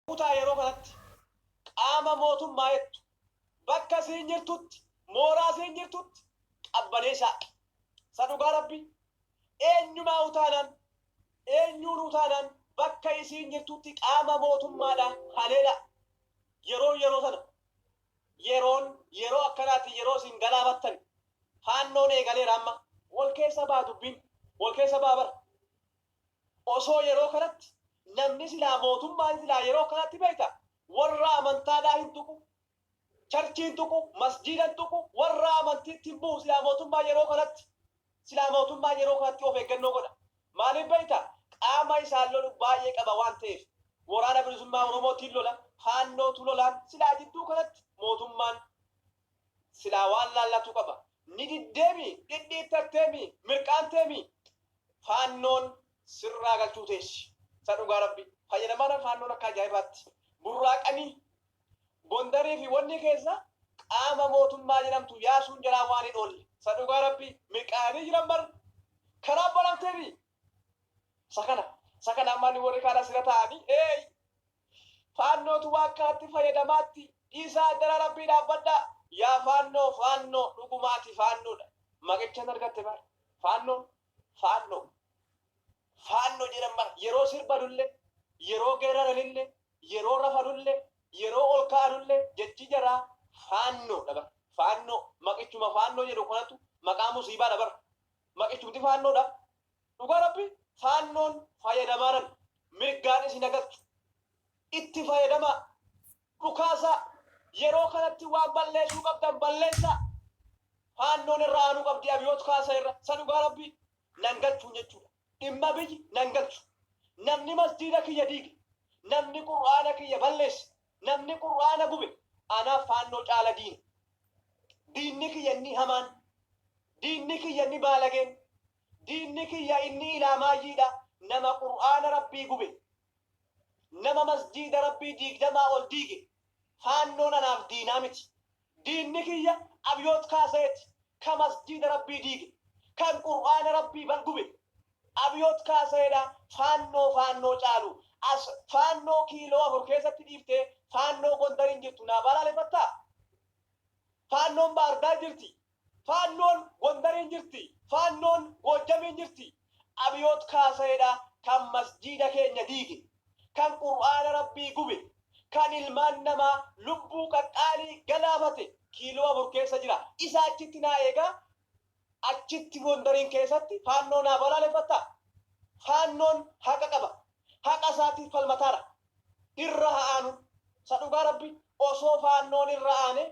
Kutaa yeroo kanatti qaama mootummaa'ettu bakka siin jirtutti mooraa siin jirtutti qabbanee shaaqqi sa dhugaa rabbii eenyumaa'u taanaan eenyuunuu taanaan bakka isiin jirtutti qaama mootummaadha haleelaa yeroon yeroo sana yeroon yeroo akkanaati yeroo isin galaafattani faannoon eegaleera amma wal keessa baha dubbiin wal keessa baha bara Osoo yeroo kanatti namni silaa mootummaan silaa yeroo kanatti beekta warra amantaadhaa hin tuqu, charchii hin tuqu, masjiida hin tuqu, warra amantiitti hin bu'u silaa mootummaan yeroo kanatti. Silaa mootummaan yeroo kanatti of eeggannoo godha. Maaliif beekta qaama isaan lolu baay'ee qaba waan ta'eef. Waraana Bilisummaa Oromootiin lola, Faannootu lolaan silaa jidduu kanatti mootummaan Silaa waan laallatu qaba. Ni diddeemi? Dhidhiittatteemi? Mirqaanteemi? Faannoon sirraa galchuu teessi. Isa dhugaa Rabbi. Fayyadamaadhaan faannoon akka ajaa'ibaatti. Burraaqanii Gondarii fi wanni keessa qaama mootummaa jedhamtu yaasuun jalaa waan hin oolle. Isa dhugaa Rabbi. Mirqaayanii jiran bar. Kanaaf balamteemi? Isa kana. Isa kana amma warri kaan asirra taa'anii eey! Faannootu waan kanatti fayyadamaatti dhiisaa addara rabbii dhaabbadhaa yaa faannoo faannoo dhugumaa ati faannoodha maqichan argatte bar faannoon faannoo faanno jedhan bar yeroo sirbanulle yeroo geeraranille yeroo rafanulle yeroo ol ka'anulle jechi jaraa faannoodha bar faannoo maqichuma faannoo jedhu kanatu maqaa musiibaadha bar maqichumti faannoodha Dhugaa rabbi faannoon fayadamaanan mirgaan isin hagalchu itti fayadamaa dhukaasaa yeroo kanatti waan balleesuu qabdan balleessaa faannoon irra aanuu qabdi abiyoot kaasa irra sa dhugaa rabbi nan galchuun jechuudha dhimma biyyi nan galchu namni masjiida kiyya diige namni qur'aana kiyya balleesse namni qur'aana gube anaaf faannoo caala diina diinni kiyya inni hamaan diinni kiyya inni baalageen Diinni kiyya inni ilaamaayyii dha, nama Qur'aana Rabbii gube, nama masjiida Rabbii diigdamaa ol diige. Faannoon anaaf diinaa miti. Diinni kiyya Abiyoot Kaasayee ti, ka masjiida Rabbii diige, kan Qur'aana Rabbii bal gube. Abiyoot Kaasayee dha Faannoo Faannoo caalu. As Faannoo kiiloo afur keessatti dhiiftee Faannoo Gondariin jirtu naa baalaalefattaa? Faannoon Baahirdaar jirti, Faannoon Gondariin jirti, Faannoon Goojjamiin jirti. Abiyoot Kaasayeedha kan Masjiida keenya diige, kan Qur'aana Rabbii gube, kan ilmaan namaa lubbuu qaqqaalii galaafate Kiiloo Afur keessa jira. Isa achitti naa eegaa, achitti Gondariin keessatti Faannoo naa balaaleffattaa? Faannoon haqa qaba. Haqa isaatiif falmataadha. Irra haa aanu. Isa dhugaa Rabbii. Osoo Faannoon irra aanee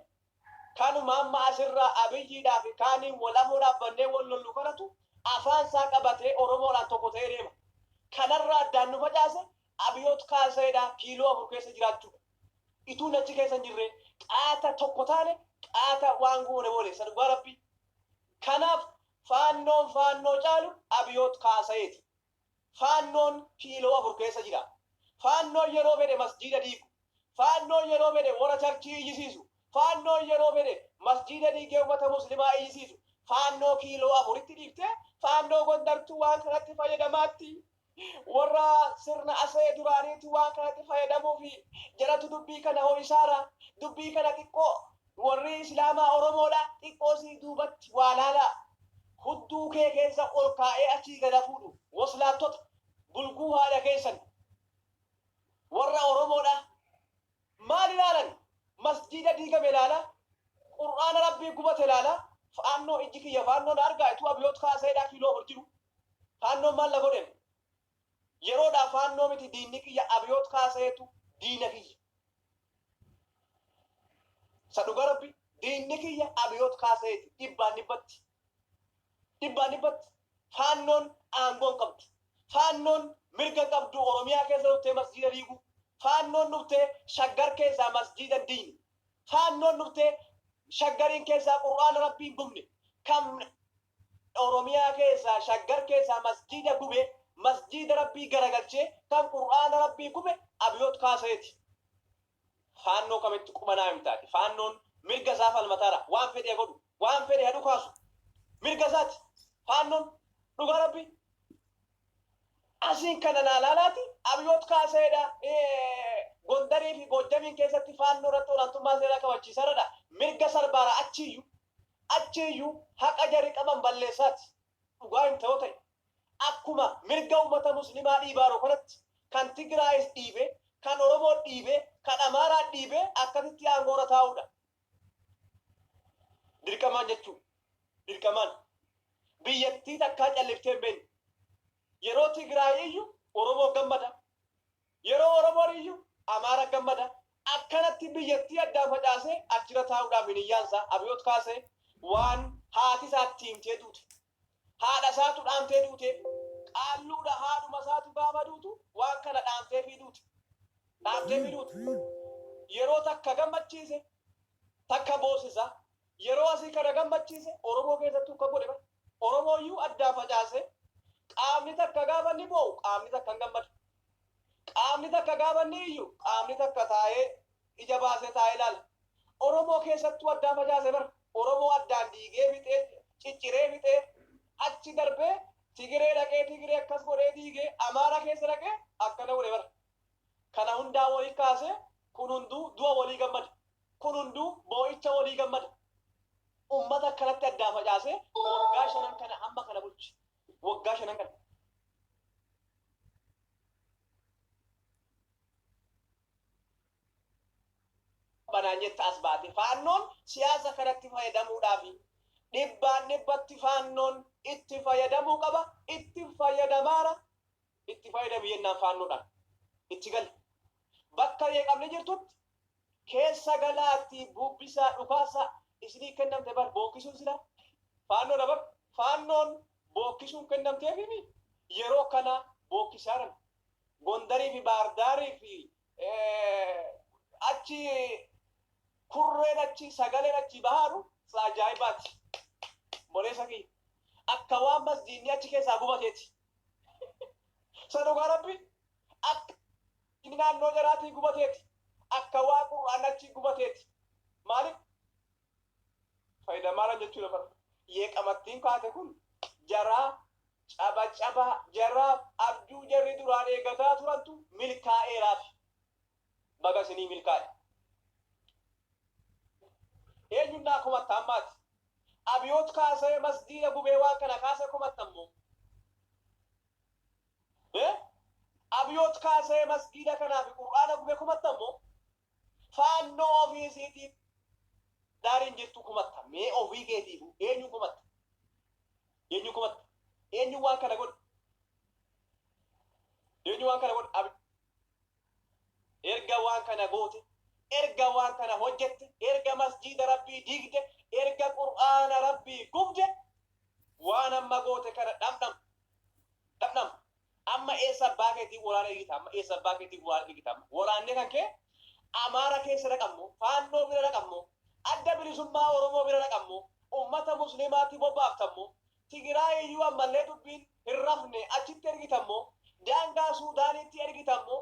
Kanuma amma asirraa Abiyyiidhaa fi kaaniin wal amoo dhaabbannee wal lollu kanatu afaan isaa qabatee Oromoodhaan tokko ta'ee deema. Kanarraa addaan nu facaase Abiyoot Kaasayeedhaa kiiloo afur keessa jiraachuudha. Ituu inni achi keessa hin jirree qaata tokko taane qaata waan goone booleessa dhugaa Rabbii. Kanaaf Faannoon Faannoo caalu Abiyoot Kaasayeeti. Faannoon kiiloo afur keessa jira. Faannoon yeroo fedhe masjiida diigu. Faannoon yeroo fedhe wora charchii iyyisiisu. Faannoon yeroo fedhe masjiida diigee ummata muslimaa iyyisiisu. Faannoo kiiloo afuritti dhiiftee faannoo Gondartu waan kanatti fayyadamaatti. Worra sirna Asee duraaniitu waan kanatti fayyadamuufi. Jaratu dubbii kana ho'isaara. Dubbii kana xiqqoo Warrii islaamaa oromoodha xiqqoo sii duubatti waa laalaa hudduu kee keessa ol kaa'ee achii gad hafuudhu woslaattota bulguu haadha keessan warra oromoodha maal ilaalan masjiida diigame laala qur'aana rabbii gubate laala faannoo ijji kiyya faannoo na argaa ituu abiyoot kaaseedhaa kiiloo afur jiru faannoon maal na godhen Yeroodhaa faannoo miti diinni kiyya Abiyoot Kaasayeetu diina kiyya. Isa dhugaa rabbi diinni kiyya Abiyoot Kaasayeeti dhibbaan dhibbatti. Dhibbaan dhibbatti faannoon aangoo hin qabdu. Faannoon mirga hin qabdu Oromiyaa keessa dhuftee masjiida diiguu. Faannoon dhuftee shaggar keessaa masjiida hin diigne. Faannoon dhuftee shaggariin keessaa qur'aana rabbii hin gubne. Kan Oromiyaa keessaa shaggar keessaa masjiida gube masjiida rabbii garagalchee kan qur'aana rabbii gube Abiyoot Kaasayeeti. Faannoo kamitti qubanaa himta ati? Faannoon mirga isaa falmataara. Waan fedhe godhu. Waan fedhe ha dhukaasu. Mirga isaati. Faannoon dhugaa rabbii. Asiin kana naa laalaati Abiyoot Kaasayeedha Gondarii fi Goojjamiin keessatti faannoo irratti olaantummaa seeraa kabachiisaradha. Mirga sarbaara achiiyyuu. Achiiyyuu haqa jari qaban balleessaati. Dhugaa himta yoo ta'e. Akkuma mirga ummata muslimaa dhiibaaro kanatti kan Tigraayis dhiibee, kan Oromoo dhiibee, kan Amaaraa dhiibee akkasitti aangoora taa'uudha. Dirqamaan jechuu. Dirqamaan. Biyyattii takkaa calliftee hin beekne. Yeroo Tigraay iyyu Oromoo gammada. Yeroo Oromoon iyyu Amaara gammada. Akkanatti biyyattii addaan facaasee achirra taa'uudhaaf hiniyyaan isaa Abiyoot Kaasee waan haati isaa itti himtee duute. Haadha isaatu dhaamtee duuteef. Qaalluudha haadhuma isaati baaba duutu waan kana dhaamteefii duute. Dhaamteefii duute. Yeroo takka gammachiise takka boosisa. Yeroo asii ka na gammachiise Oromoo keessattuu ka godhe bara. Oromoo iyyuu addaan facaasee qaamni takka gaafa inni boo'u qaamni takka hin gammadu. Qaamni takka gaafa inni iyyu qaamni takka taa'ee ija baasee taa'ee ilaala. Oromoo keessattuu addaan facaase bara. Oromoo addaan diigee fixee cicciree fixee achi darbee Tigiree dhaqee Tigiree akkas godhee diigee Amaara keessa dhaqee akkana godhe bara. Kana hundaa woli kaase kun hunduu du'a wolii gammada. Kun hunduu boo'icha wolii gammada. Ummata akkanatti addaan facaasee waggaa shanan kana hamma kana bulche. Waggaa shanan kana. banaan jetta as baate faannoon siyaasa kanatti fayyadamuudhaafi dhibbaan dhibbatti faannoon itti fayyadamuu qaba itti fayyadamaara itti fayyadamu jennaan faannoodhaan itti gala. Bakka jeeqamni jirtutti keessa galaattii bubbisaa dhukaasaa isinii kennamte bar bookkisuun silaa faannoodha bar faannoon bookkisuun kennamteefimi yeroo kanaa bookkisaaran Gondarii fi Baardaarii fi achi kurreen achi sagaleen achi bahaaru saajaayibaati. Boleessa kiyya akka waan masjiinni achi keessaa gubateeti. Sa dhugaa rabbi akka inni naannoo jaraatii gubateeti akka waa qur'aan achii gubateeti maalif fayida maalan jechuu dabar yee qamattiin kaate kun jaraa caba cabaa jaraaf abjuu jarri duraan eegataa turantu milkaa'eeraafi. baga isinii milkaa'e. Eenyuun naa komatta ammaati? Abiyoot kaasee masgiida gubee waan kana kaasee komattan moo? Ee? Abiyoot kaasee masgiida kanaa fi Qur'aana gubee komattan moo? Faannoo ofii isiitiif daariin jirtu komatta. Mee ofii keetiifu eenyuun komatta? Eenyuun komatta? Eenyuun waan kana godhe? Eenyuun waan kana godhe? Abi- Erga waan kana goote, erga waan kana hojjette, erga masjiida Rabbii diigde, erga Qur'aana Rabbii gubde, waan amma goote kana dhamdham. Dhamdham. Amma eessa abbaa keetii waraana eegita amma? Eessa abbaa keetii waraana eegita amma? Waraanni kan kee Amaara keessa dhaqammoo, Faannoo bira dhaqammoo, Adda Bilisummaa Oromoo bira dhaqammoo, ummata Musliimaatti bobbaaftammoo, Tigiraayi iyyuu ammallee dubbiin hin rafne achitti ergitan moo daangaa Suudaaniitti ergitan moo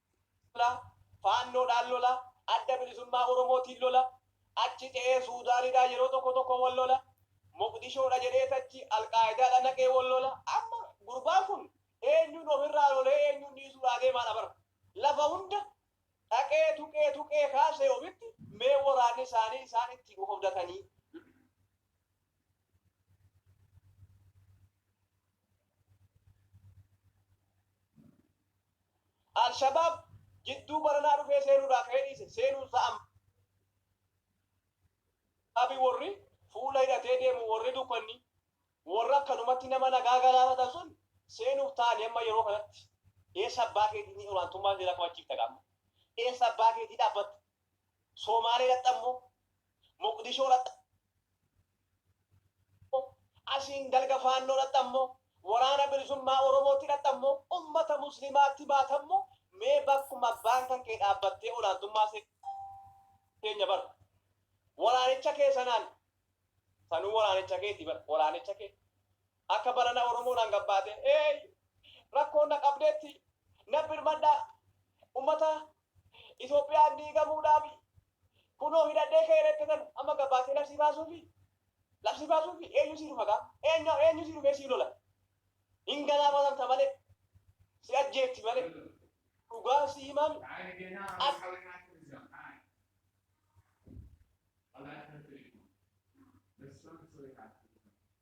lola, Faannoodhaan lola, Adda Bilisummaa Oromootiin lola, achi ce'ee Suudaanidhaa yeroo tokko tokko wal lola, Moqdishoodha jedhees achi Alqaayidaadha naqee wal lola. Amma gurbaan kun eenyuun ofirraa lolee eenyuun dhiisuudhaa deemaadha bar. Lafa hunda dhaqee tuqee tuqee kaasee ofitti mee waraanni isaanii isaan ittiin of abdatanii. Al-Shabaab jidduu baranaa dhufee seenuudhaa ka'ee dhiise seenuunsaa amma Al-Shabaabin worri fuula hidhatee deemu worri dukkanni worra akkanumatti nama nagaa galaafatan sun seenuuf taa'anii amma yeroo kanatti eessa abbaa keetii ni olaantummaa seeraa kabachiifta gaa amma eessa abbaa keetii dhaabbatta Soomaalee irratti ammoo Moqdishoo irratti ammoo asiin dalga Faannoo irratti ammoo Waraana Bilisummaa Oromootti irratti ammoo ummata Muslimaatti baata ammoo mee bakkuma abbaan kan kee dhaabbattee olaantummaa seenya bar waraanicha kee sanaan sanuu waraanicha keeti bar waraanicha kee Akka barana Oromoo naan gabbaate eey rakkoon na qabdeetti na birmadhaa ummata Itoophiyaan diigamuudhaafi kunoo hidhadhee ka'ee reekketan amma gabbaatee labsii baasuufi labsii baasuufi eenyu sii tufa gaa eenyu eenyu sii dhufee sii lola hin galaafatamta malee si ajjeefti malee dhugaa si himaami as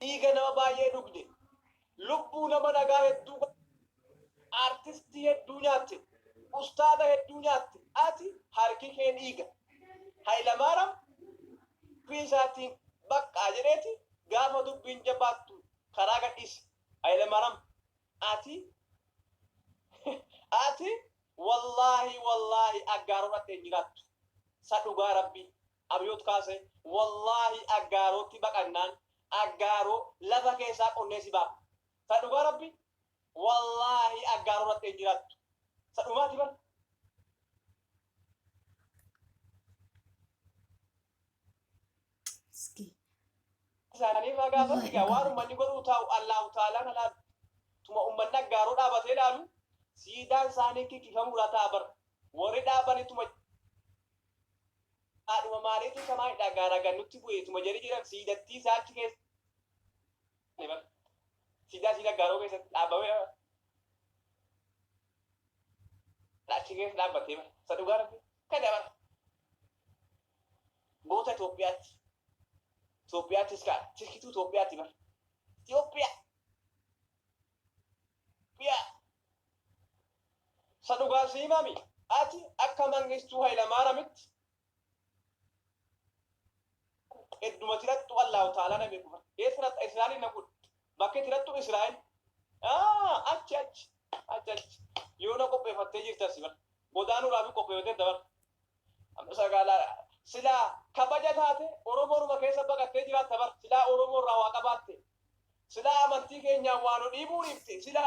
dhiiga nama baay'ee dhugde, lubbuu nama nagaa hedduu gubde, artistii hedduu nyaatte, ustaaza hedduu nyaatte, ati harki kee dhiiga. Hayilamaaram dubbii isaatiin baqqaa jedheeti gaafa dubbiin jabaattu karaa gadhiise. Hayilamaaram ati ati wallaahi wallaahi Aggaaroo dhatte hin jiraattu. Sa dhugaa Rabbii. Abiyoot Kaasee, Wallaahi Aggaarootti baqannaan Aggaaroo lafa keessaa qonnee si baafna. Ta dhugaa Rabbii wallaahi Aggaaroo irratti hin jiraattu. Ta dhumaati bar. Miskiin. isaanii irraa gaafatu egaa waan ummanni godhuu taa'u Allaahu Taalaan alaalu. Tuma ummanni Aggaaroo dhaabatee ilaalu siidaan isaanii kikkifamuu irraa ta'a bar. Warri dhaabanittuma Haadhuma maaliituu samaayidhaa gaaraa gad nutti bu'e tuma jedhi jedhan siidattii isaa achi keessa ne bar siidaa siida gaaroo keessa dhaabamee bar achi keessa dhaabbatee bar isa dhugaa rabbi kana bar goota Itoophiyaatti Itoophiyaattis kaa tirkituu Itoophiyaatti bar Itoophiyaa Itoophiyaa Sa dhugaa si himami ati akka mangistuu hayilamaaramitti edduma tirattu allaahu taalaa na beeku bara ee tirattu israa'el na godhu bakkee tirattu israa'el achi achi achi achi yoo na qopheeffattee jirta si bara godaanuu raabii qopheeffattee dabar amma sagaalaa silaa kabaja taate oromooruma keessa baqattee jiraatta bara silaa oromoo irraa waa qabaatte Silaa amantii keenyaan waa nu dhiibuu dhiifte sila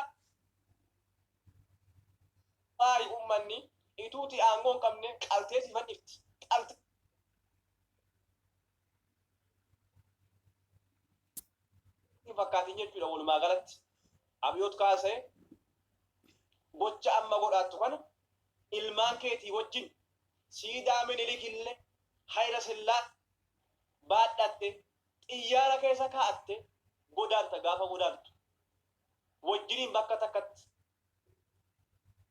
maayi ummanni ituuti aangoo hin qabne qaltee si fannifti. Qaltee hin fakkaatin jechuudha walumaa galatti. Abiyoot kaasee gocha amma godhaattu kana ilmaan keetii wajjin siidaa minilik illee hayila sillaa baadhatte xiyyaara keessa kaa'atte godaanta gaafa godaantu wajjiniin bakka takkatti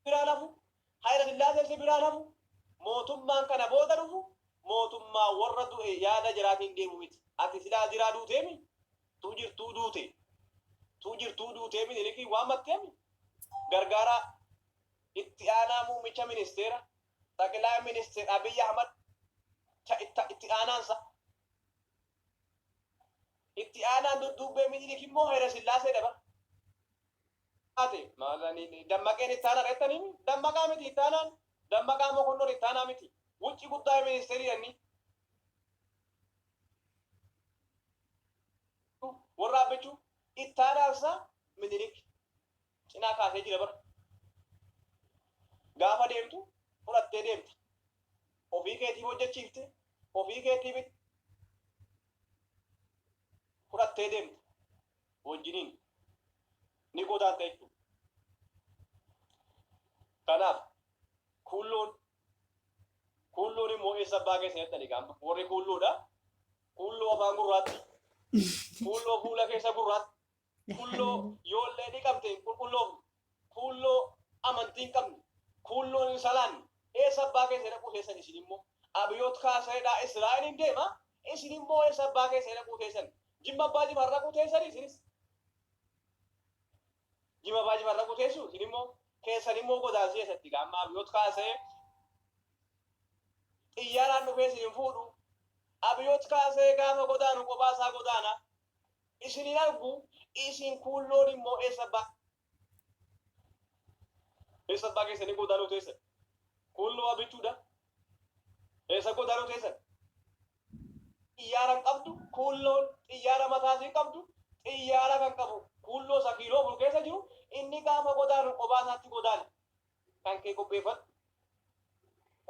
biraan hafu Hayila Sillaasee si biraan hafu mootummaan kana booda dhufu mootummaa warra du'e yaada jiraatiin deemu miti ati silaa jiraa duuteemi tuu jirtuu duute tuu jirtuu duutee minilikii waammatteemi gargaaraa itti aanaa muummicha ministeera Xaqilaay Ministir Abiy Ahmad ta itta itti aanaan sa. Itti aanaan dudduubbee Minilik immoo Hayila Sillaasee dha bara. Ate maalanii dammaqeen itti aanaa dheettanii mi? Dammaqaa miti itti aanaan. Dammaqaa Mokonnon itti aanaa miti. Wucci guddaa ministeerii dhanni. Warra abbichuu itti aanaan sa Minilik. cinaa kaasee jira bar gaafa deemtu fudhattee deemta ofii keetiif hojjechiifte ofii keetiif fudhattee deemta wajjiniin ni godaanta jechuudha. Kanaaf kuulloon kuulloon immoo eessa abbaa keessa jettani gaama warri kuulloodha kuulloo afaan gurraatti kuulloo fuula keessa gurraatti Kuulloo yoollee ni qabte hin qulqulloofne. Kuulloo amantii hin qabne. Kuulloon hin salaanne. Eessa abbaa keessan dhaquu teessan isin immoo? Abiyoot Kaasaayidhaa Israa'eliin deema. Isin immoo eessa abbaa keessan dhaquu teessan? Jimma abbaa jifaar dhaquu teessan isinis. Jimma abbaa jifaar dhaquu teessu isin immoo keessan immoo godaansii eessatti gaa amma abiyoot kaasee xiyyaaraan dhufee isin hin fuudhu. Abiyoot kaasee gaafa godaanu kophaa isaa godaana. isin hin argu, isin kuun loon immoo eessa abbaa. eessa abbaa keessanii godaanoo teessan? Kuun lo'aa bichuu da. eessa godaanoo teessan? xiyyaara hin qabdu, kuun loon xiyyaara mataa isii qabdu, xiyyaara kan qabu kuun loo isa kiiloo afur keessa jiru, inni gaafa godaanu qobaa isaatti godaana. Kan kee qopheeffadhu.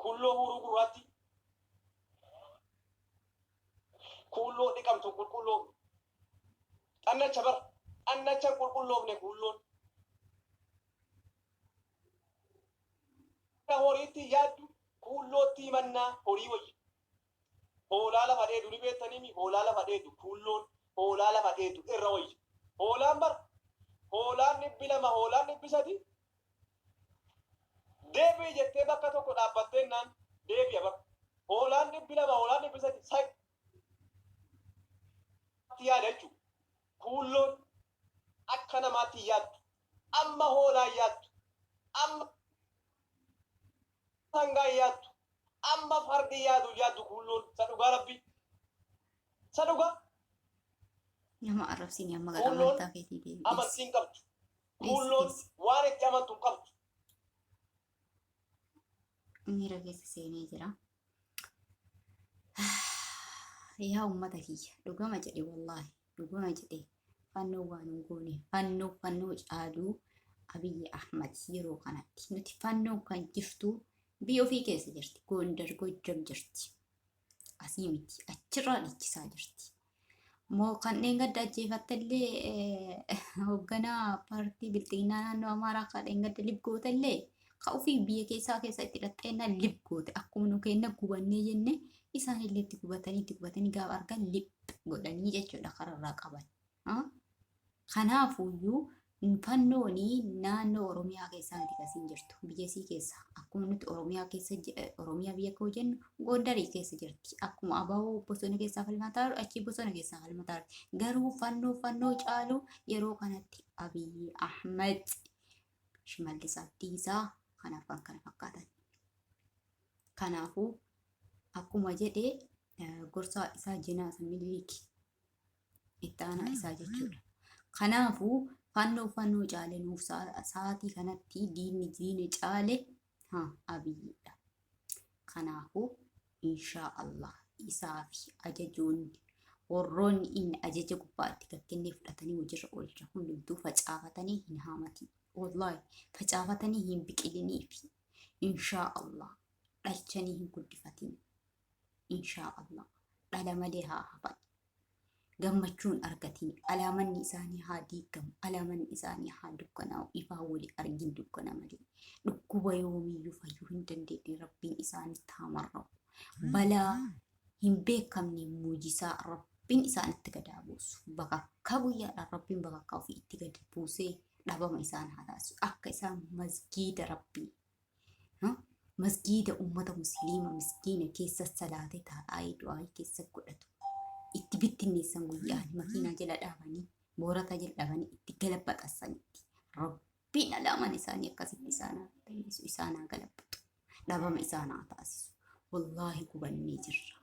Kuulloo huuruu gurraatti. Kuulloo dhiqamtu qulqulloo. Xannacha bara. Xannacha qulqulloofne kuulloon. Akka horiitti yaaddu kuullootti himannaa horii wayya. Hoolaa lafa dheedu ni beektaniimi? Hoolaa lafa dheedu, kuulloon hoolaa lafa dheedu irra wayya. Hoolaan bar hoolaan dhibbi lama, hoolaan dhibbi sadii deebi'i jettee bakka tokko dhaabbatteennaan deebi'a bar. Hoolaan dhibbi lama, hoolaan dhibbi sadii sa itti yaada jechuudha. Kuulloon Akka namaatti hin yaaddu. Amma hoolaa hin yaaddu. Amma sangaa hin yaaddu. Amma fardi hin yaadu hin yaaddu kuulloon. Isa dhugaa rabbi. Isa dhugaa. Nama arrabsiin amma gara Kuulloon amantaa keetii deebi'ees. amantii hin qabdu. Kuulloon Dhiisi, waan itti amantu hin qabdu. miira keessa seenee jira. Yaa uummata kiyya dhugama jedhe wallaahi dhugama jedhe fannoo waan hin goone fannoo fannoo caaluu Abiyyi Ahmad yeroo kanatti nuti fannoo kan jirtu biyya ofii keessa jirti Gondar Gojjam jirti. Asii miti. Achirraa dhiichisaa jirti. Moo kanneen gadda ajjeefatte illee hoogganaa paartii bilxiginnaa naannoo Amaaraa kanneen gadda lib goote illee ka ofii biyya keessaa keessa itti dhaxxeenna lib goote akkuma nu keenna gubannee jenne isaan illee itti gubatanii itti gubatanii gaafa argan lib godhanii jechuudha kararraa qaban. Kanaafuyyuu Infannooni naannoo Oromiyaa keessaa miti kan siin jirtu. Biyya isii keessa. Akkuma nuti Oromiyaa keessa Oromiyaa biyya koo jennu Gondarii keessa jirti. Akkuma abawoo bosona keessaa falmataa jiru achii bosona keessaa falmataa jirti. Garuu fannoo fannoo caalu yeroo kanatti Abiyyi Ahmed Shimallis Abdiisaa kan arfan kana fakkaatan. Kanaafuu akkuma jedhe gorsaa isaa jenaa isa miliiki itti aanaa isaa jechuudha. Kanaafuu fannoo fannoo caale nuuf sa'aatii kanatti diinni diina caale ha abiyyiidha. Kanaafuu inshaa Allah isaa fi ajajoonni warroonni inni ajaja gubbaatti gakkennee fudhatanii hojiirra oolcha hundumtuu facaafatanii hin haamatin. Wallahi facaafatanii hin biqilinii fi inshaa Allah dhalchanii hin guddifatin. inshaa allah dhala malee haa hafan gammachuun argatiin alaamanni isaanii haa diigamu alaamanni isaanii haa dukkanaa'u ifaa wali argin dukkana malee dhukkuba yoomiyyuu fayyuu hin dandeenye rabbiin isaanitti haa marra'u balaa hin beekamne muujisaa rabbiin isaanitti gadaa buusu bakakkaa guyyaadhaan rabbiin bakakkaa ofii itti gadi buusee dhabama isaan haa taasisu akka isaan masgiida rabbii masgiida ummata musliima miskiina keessa salaate taa'aa du'aayii keessa godhatu itti bittinneessan guyyaan makiinaa jala dhaabanii moorataa jala dhaabanii itti galabaxassanitti rabbiin alaaman isaanii akkasitti isaan haa balleessu isaan haa galabaxu dhabama isaan haa taasisu wallaahi gubannee jirra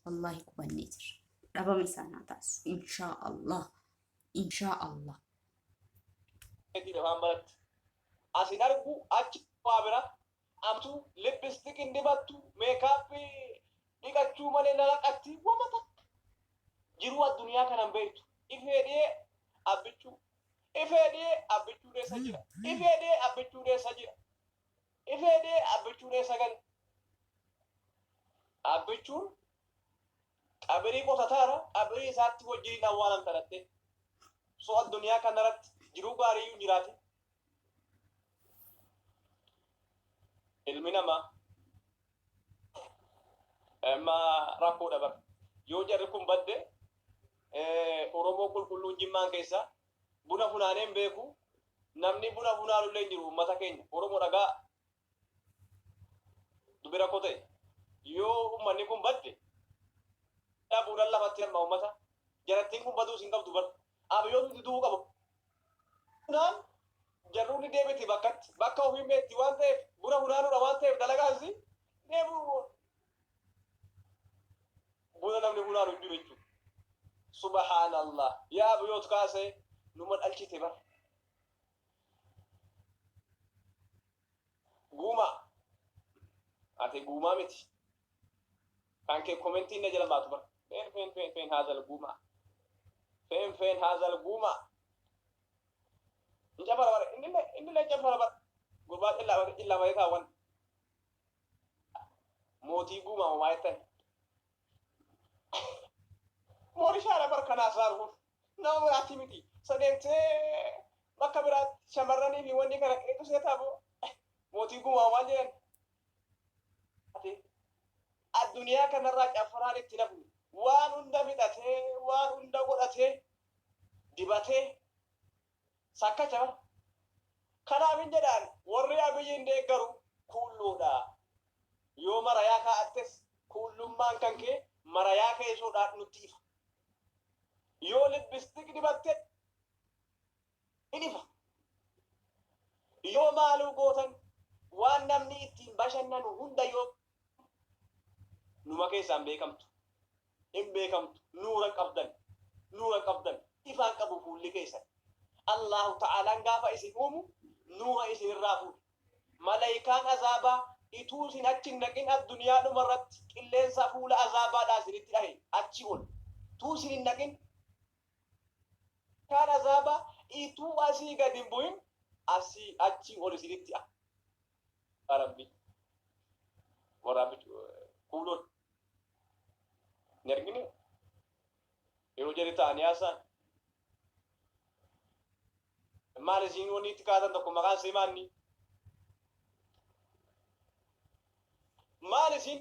wallaahi gubannee jirra dhabama isaan haa taasisu inshaa allah inshaa allah. Eegdii afaan baratti as hin argu achi waa bira amtu lipstick hin dibattu makeup dhiqachuu malee lalaqatti wama takka jiruu addunyaa kana hin beektu ifee dhiyee abbichuu ifee dhiyee abbichuu dheessa jira ifee dhiyee abbichuu dheessa jira ifee dhiyee abbichuu dheessa gale abbichuun Qabrii qotataara, qabrii isaatti wajjin hin awwaalamta dhattee. So addunyaa kanarratti jiruu gaariiyyuu hin jiraatin. Ilmi namaa amma rakkoodha bara. Yoo jarri kun badde Oromoo qulqulluun jimmaan keessaa buna funaaneen beeku namni buna funaanullee hin jiru uummata keenya Oromoo dhagaa dubbi rakkoo ta'e yoo ummanni kun badde dhabuudhaan lafatti hamma ummata jarattiin kun baduus hin qabdu bar abiyyoon hundi du'uu qabu naan jarruun deebiti bakkatti bakka ofiin beetti waan ta'eef buna hunaanuudha waan ta'eef dalagaan si deebu buna namni hunaanu hin jiru jechuudha subhaanallah yaa abiyyoot kaasee numa dhalchite bar Guumaa. Ate guumaa miti. Kan kee komentiin na jala baatu bara. Feen feen feen feen haazal guumaa. Feen feen haazal guumaa. Hin cafara bara. Inni illee inni illee hin cafara bara. Gurbaa cillaa bara cillaa bara taawwan. Mootii guumaa homaa jettan. Moorishaadha bar kanaas raaruuf nama biraatti miti. Sadeentee bakka biraatti shamarranii fi wanni kana qeetu seetaa boo mootii gumaa maal jedhan. Ati addunyaa kanarraa caffaraan itti nafu waan hunda fixatee waan hunda godhatee dibatee Sakkacha. Kanaaf hin jedhaan warri Abiyyiin deeggaru kuulluudha. Yoo marayaa kaa'attes kuullummaan kan kee marayaa keessoodhaan nutti ifa. Yoo lipstick dibatte hin ifa. Yoo maaluu gootan waan namni ittiin bashannanu hunda yoo numa keessaan beekamtu. hin beekamtu nuura qabdan nuura qabdan ifaan qabu fuulli keessan Allaahu ta'aalaan gaafa isin uumu nuura isin irraa fuudhe malaykaan azaabaa ituu isin achi hin dhaqin adduniyaa dhuma irratti qilleensa fuula azaabaadhaa isinitti dhahe achi ol tuu isin hin dhaqin kaan azaabaa ituu asii gad hin bu'in asii achi ol isinitti a rabbi waraabichi kuuloon Hin argine? Yoo jari ta'anii haasa'an. Maal isiin wanni itti kaatan tokko maqaan isii maanni? Maal isiin